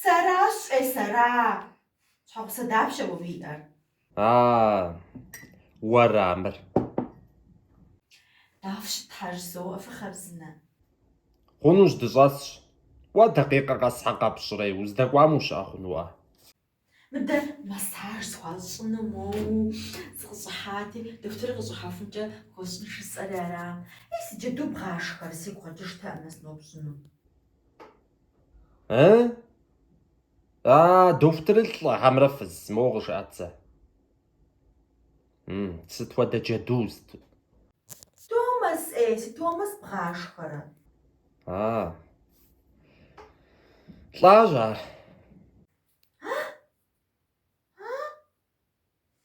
Сэращ-е, сэра? Щхьэгъусэ дапщэ уэ уиӏэр? А, уэра мыр? Дауэ фыщытхэ жызоӏэ, фыхъарзынэ? Хъунущ, дыщӏэсщ. Уэ дакъикъэ къэс щхьэ къэпщӏрэ, уздэкӏуам ущыӏэ хъунуӏэ? Мыдэ массаж схуащӏыну моуэ сыкъыщӏыхьати, дохутырыр къыщӏыхьэхункӏэ хуэсщӏын жысӏэри ара? Ей, си джэду бгъашхэрэ, сигу къэкӏыжтэкъым сыноупщӏыну. Э? А, дохутырыр лӏы хьэмэрэ фыз, моуэ къыжыӏэт зэ. М, сыт хуэдэ джэду сыт? Томас, э, си Томас бгъашхэрэ. А. Лӏащ ар.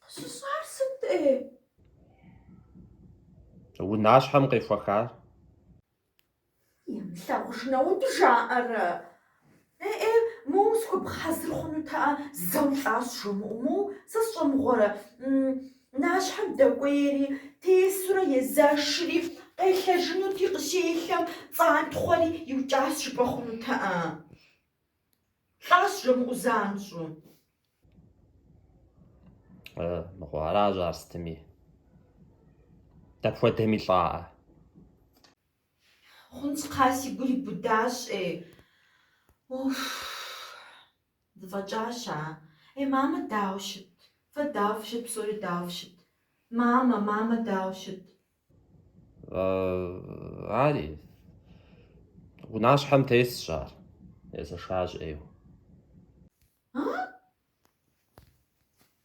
Къыщыщӏар сыт-тӏэ? Унащхьэм къехуэхар? Ямылъагъужын, апхуэдэу жаӏэрэ? Э-э, моуэ сыхуэбгъэхьэзыр хъунутэӏэ, зэу лӏащ жумыӏэу, моуэ сэ сщӏэмыгъуэрэ? Унащхьэм дэкӏуейри, тесурэ езэшри, къелъэжынути, къыщелъэм цӏантхъуэри иукӏащ жыпӏэ хъунутэӏэ. Лӏащ жумыӏэу занщӏэу. Э, мыгъуэ, аращ ар сытми. Дапхуэдэми лӏаӏэ. Хъунщ, кхъа, си гур ибудащ, ӏей. Уф! Дыфӏэкӏащ, а? Ей, мамэ, дауэ щыт? Фэ дауэ фыщыт, псори дауэ фыщыт? Мамэ, мамэ, дауэ щыт? Ари, унащхьэм тесщ ар, езэшащ ӏейуэ.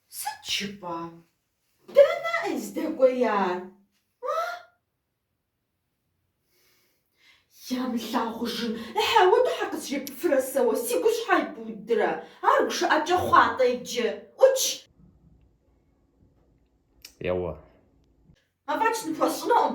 Сыт жыпӏа? Дэнэ здэкӏуеяр? Ямылъагъужын, апхуэдэу щхьэ къызжепӏэфрэ сэ уэ, си гу щхьэ ибудрэ? Ар гушыӏэкӏэ хъуа-тӏэ иджы? ӏукӏ! Еуэ. Афӏэкӏ ныпхуэсщӏынукъым.